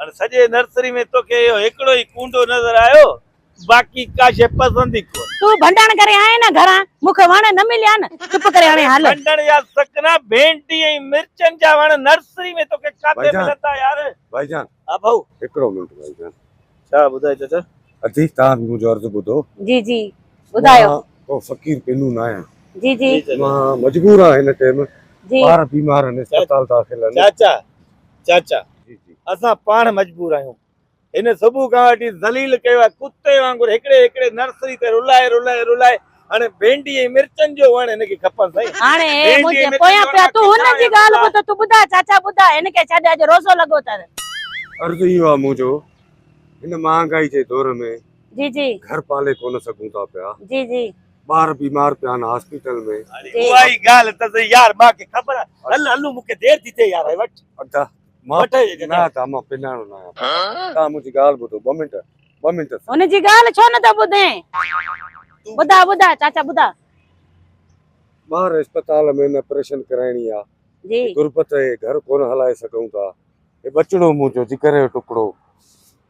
هن سڄي نرسري ۾ توکي اهو هڪڙو ئي ڪونڊو نظر آيو باقي ڪا شيء پسند ئي ڪونه. تون ڀنڊڻ ڪري آئين نه گهران مون کي وڻ نه مليا نه چپ ڪري هاڻي هل. ڀنڊڻ يا سڪنا ڀينڊي ۽ مرچن جا وڻ نرسري ۾ توکي ڪاٿي ملن ٿا يار. ڀائي جان ها ڀائو هڪڙو منٽ ڀائي جان. ڇا ٻڌاء چچا. ادي توهان منهنجو عرض ٻڌو. جي جي ٻڌايو. مان ڪو فقير پنهون نه آهيان. جي جي. مان مجبور آهيان هن ٽيم ٻار بيمار آهن اسپتال داخل آهن. چاچا. چاچا اسان پاڻ مجبور آهيون هن صبح کان وٺي ذليل ڪيو آهي ڪتي وانگر هڪڙي هڪڙي نرسري تي رلائي رلائي رلائي هاڻي ڀينڊي ۽ مرچن جو وڻ هن کي کپن سائين هاڻي هي منهنجي پويان پيا تون هن جي ڳالهه ٻڌ تون ٻڌاء چاچا ٻڌاء هن کي ڇڏ اڄ روزو لڳو اٿس. عرض اهو آهي منهنجو هن مهانگائي جي دور ۾ جي جي گهر پالي ڪونه سگهون ٿا پيا جي جي ٻار بيمار پيا آهن هاسپيٽل ۾. اهائي ڳالهه ته سهي يار مان کي خبر آهي هل هلون مون کي دير ٿي ٿئي يار هي وٺ. ادا مان نه ادا مان پڃاڻو نه آهيان توهان منهنجي ڳالهه ٻڌو ٻه منٽ ٻه منٽ. هن جي ڳالهه ڇو نه ٿو ٻڌين ٻڌاء ٻڌاء چاچا ٻڌاء. ٻاهر اسپتال ۾ آپريشن ڪرائڻي آ غربت اهي گهر ڪونه هلائي سگهون ٿا هي ٻچڙو منهنجو جگر جو ٽڪڙو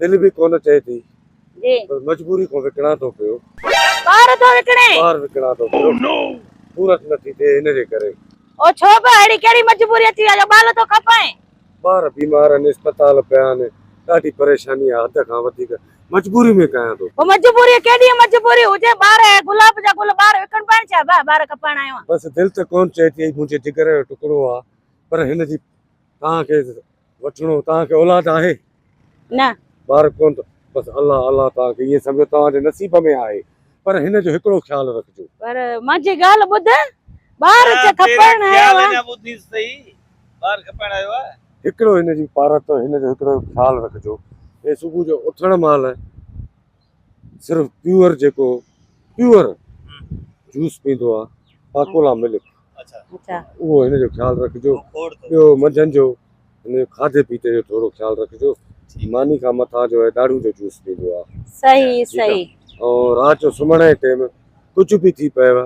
دل به ڪونه چئي ٿي جي پر مجبوري ڪو وڪڻان ٿو پيو ٻار ٿو وڪڻي ٻار وڪڻان ٿو پيو نو پورت نٿي ٿئي ان جي ڪري او ڇو به اهڙي ڪهڙي مجبوري اچي ويا جو ٻال ٿو کپائين. ٻار بيمار آهن اسپتال پيا آهن ڏاڍي پريشاني آهي حد کان وڌيڪ مجبوري ۾ ڪيان ٿو. او مجبوري ڪيڏي مجبوري هجي ٻار اهي گلاب جا گل ٻار وڪڻبا آهن ڇا ڀاء ٻار کپائڻ آيو آهيان. بس دل ته ڪون چئي ٿي هي منهنجي جگر جو ٽڪڙو آهي پر هن جي توهان کي وٺڻو توهان کي اولاد آهي؟ نه. ٻار ڪونه اٿو؟ بس الله الله توهان کي ائين سمجهو توهان جي نصيب ۾ آهي پر هن جو هڪڙو خيال رکجو. پر منهنجي ڳالهه ٻڌ ٻار ته کپائڻ آيو آهي. تيرا خيال اڃا ٻڌ ته سهي ٻار کپائڻ آيو آهي. هڪڙو هن جي پارت هن جو هڪڙو خيال رکجو هي صبح جو اٿڻ مهل. صرف پيور جيڪو پيور جوس پيندو آ پاڪولا ملڪ اچا اهو هن جو خيال رکجو ٻيو منجهن جو هن کاڌي پيتي جو ٿورو خيال رکجو ماني کان مٿا جو هي ڏاڙهون جو جوس پيندو آ صحيح صحيح ۽ رات جو سمهڻ جي ٽيم ڪجهه به ٿي پيو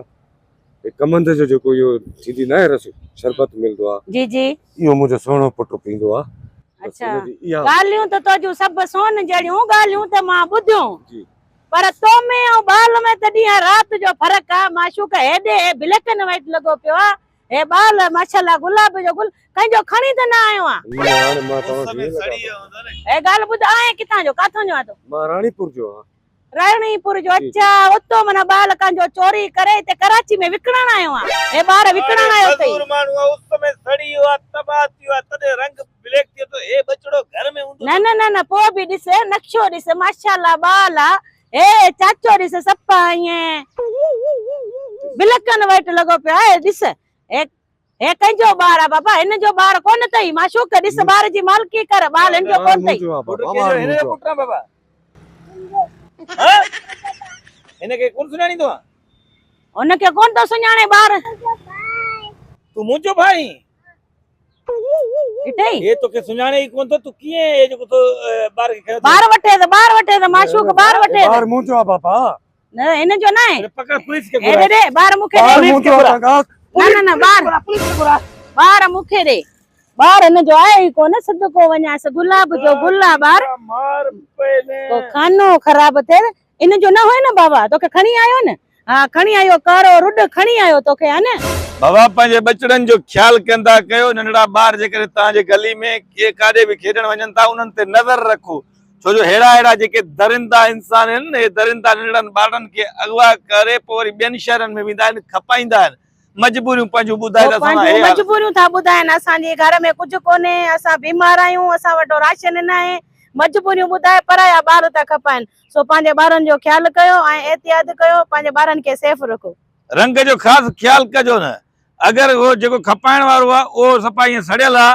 هي ڪمند جو جيڪو اهو ٿيندي ناهي رس شربت ملندو آ جي جي اهو منهنجو سهڻو پٽ پيندو آ اڇا ڳالهيون ته تنهنجون سڀ سون جهڙيون ڳالهيون ته مان ٻڌيون جي پر تو ۾ ۽ ٻال ۾ ته ڏينهن ۽ رات جو فرق آ معشوق هيڏي هي بليڪ اينڊ وائيٽ لڳو پيو آ هي ٻال ماشاءالله گلاب جو گل ڪنهن جو کڻي ته نه آيو آ نه هاڻي مان توهان کي ڪيئن لڳاء هي ڳالهه ٻڌ آهين ڪٿان جو ڪاٿو جو آ تو مان راڻي پور جو آ رائڻي پور جو اچا اتو من ٻالڪان جو چوري ڪري اتي ڪراچي ۾ وڪڻڻ آيو آ هي ٻار وڪڻڻ آيو تئي مزور ماڻهو آ اس ۾ سڙي ويو آ تباهه ٿي ويو آ تڏهن رنگ بليڪ ٿئي ٿو هي ٻچڙو گهر ۾ هوندو نه نه نه نه پوء به ڏس نقشو ڏس ماشاءالله ٻال آ هي چاچو ڏس سپا ائين بلڪن وائٽ لڳو پيو آ هي ڏس هي هي ڪنهن جو ٻار آ بابا هن جو ٻار ڪونه تئي معشوق ڏس ٻار جي مالڪي ڪر ٻار هن جو ڪونه تئي. پٽ ڪنهن جو هن جو پٽ آ بابا ها هن کي ڪونه سڃاڻيندو آ. هن کي ڪونه ٿو سڃاڻي ٻار. تون منهنجو ڀاء آهين. ڏٺئي. هي توکي سڃاڻي ئي ڪونه ٿو تون ڪيئن هي جيڪو تو ٻار کي کنيو ٿي. ٻار وٺيس ٻار وٺيس معشوق ٻار وٺيس. هي ٻار منهنجو آ بابا. ان جو ناهي پڪڙ پوليس کي گهرا ڏي ٻار مون کي ڏي پوليس کي گهرا نه نه ٻار پوليس کي گهرا ٻار مون کي ڏي ٻار ان جو آهي ئي ڪونه سڌ ڪو وڃائيس گلاب جو گل آ ٻار مار پيلي ڪو خانو خراب ٿئي ان جو نه هئي نه بابا توکي کڻي آيو نه ها کڻي آيو ڪارو رڏ کڻي آيو توکي ها نه. بابا پنهنجي ٻچڙن جو خيال ڪندا ڪيو ننڍڙا ٻار جيڪڏهن توهان جي گلي ۾ ڪي ڪاڏي به کيڏڻ وڃن ٿا انهن تي نظر رکو ڇو جو ههڙا ههڙا جيڪي درندا انسان آهن نه اهي درندا ننڊڙن ٻارڙن کي اغوا ڪري پوء وري ٻين شهرن ۾ ويندا آهن کپائيندا آهن مجبوريون پنهنجون ٻڌائي ته اسان سان هي حال مجبوريون ٿا ٻڌائن اسان جي گهر ۾ ڪجهه ڪونهي اسان بيمار آهيون اسان وٽ راشن ناهي مجبوريون ٻڌائي پرايا ٻار ٿا کپائن سو پنهنجي ٻارن جو خيال ڪيو ۽ احتياط ڪيو پنهنجي ٻارن کي سيف رکو. رنگ جو خاص خيال ڪجو نه اگر اهو جيڪو کپائڻ وارو آهي اهو صفا ائين سڙيل آهي